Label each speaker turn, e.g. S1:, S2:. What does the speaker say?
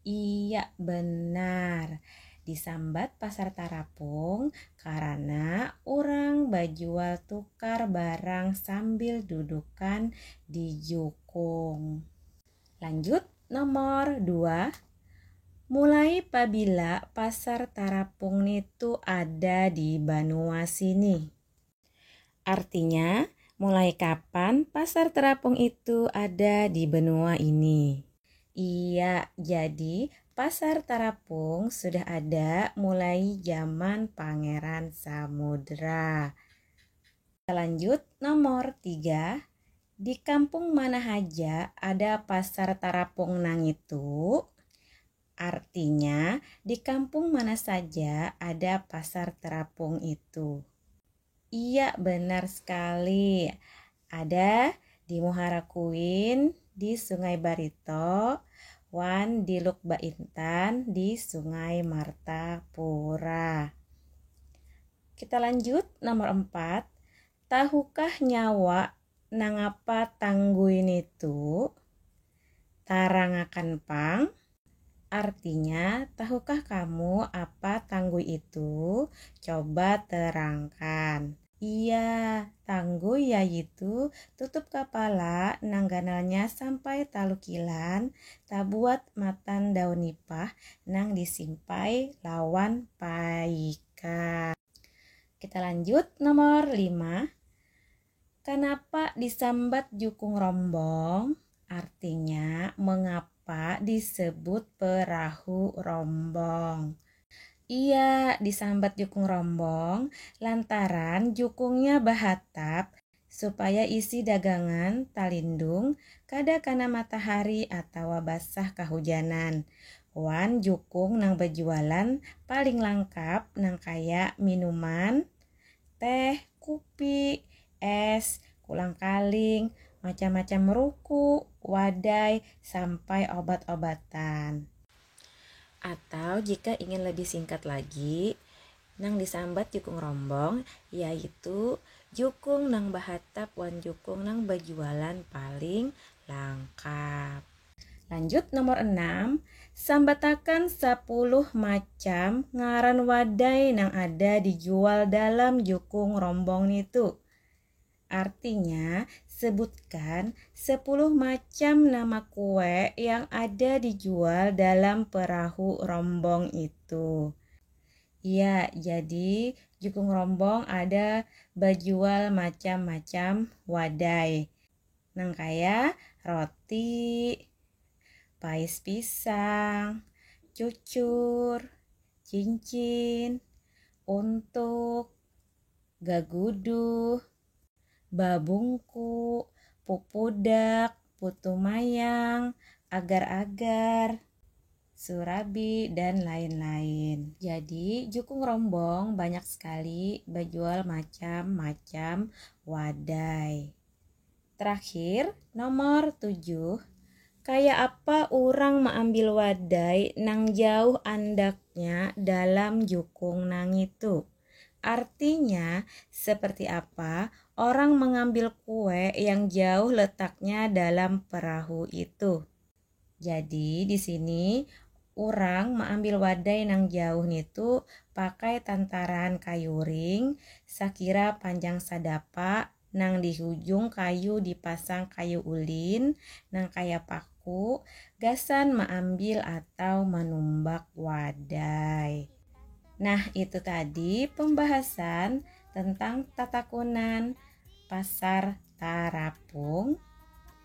S1: Iya benar, disambat pasar tarapung karana urang bajual tukar barang sambil dudukan di jukung. Lanjut nomor dua, mulai pabila pasar tarapung nitu ada di banua sini? Artinya, mulai kapan pasar terapung itu ada di benua ini? Iya, jadi pasar terapung sudah ada mulai zaman Pangeran Samudra. Lanjut, nomor tiga, di kampung mana haja ada pasar terapung nangitu? Artinya, di kampung mana saja ada pasar terapung itu. Iya, benar sekali. Ada di Muhara Kuin, di Sungai Barito, wan di Luk Baintan di Sungai Martapura. Kita lanjut nomor empat, Tahukah nyawa nangapa Tanggui nitu? Tarangakan pang. Artinya, tahukah kamu apa Tanggui itu? Coba terangkan. Iya, Tanggui yaitu tutup kapala nang ganalnya sampai talu kilan, tabuat matan daun nipah nang disimpai lawan paika. Kita lanjut nomor 5. Kenapa disambat jukung rombong? Artinya, mengapa disebut perahu rombong? Iya, disambat jukung rombong lantaran jukungnya bahatap supaya isi dagangan talindung kada kana matahari atawa basah kahujanan, wan jukung nang bajualan paling langkap nang kaya minuman, teh, kupi, es, kulang-kaling, macam-macam ruku, wadai, sampai obat-obatan. Atau jika ingin lebih singkat lagi, Nang disambat jukung rombong yaitu jukung nang bahatap wan jukung nang bajualan paling langkap. Lanjut nomor enam, sambatakan sapuluh macam ngaran wadai nang ada dijual dalam jukung rombong nitu. Artinya, sebutkan sepuluh macam nama kue yang ada dijual dalam perahu rombong itu. Iya, jadi jukung rombong ada bajual macam-macam wadai. Nang kaya roti, pais pisang, cucur, cincin, untuk, gaguduh, babungku, pupudak, putu mayang, agar-agar, surabi, dan lain-lain. Jadi, Jukung Rombong banyak sekali bajual macam-macam wadai. Terakhir, nomor tujuh, kaya apa urang maambil wadai nang jauh andaknya dalam jukung nangitu. Artinya, seperti apa orang mengambil kue yang jauh letaknya dalam perahu itu. Jadi di sini urang maambil wadai nang jauh nitu pakai tantaraan kayu ring sakira panjang sadapa nang di hujung kayu dipasang kayu ulin nang kaya paku gasan maambil atau manumbak wadai. Nah itu tadi pembahasan tentang tatakunan pasar tarapung.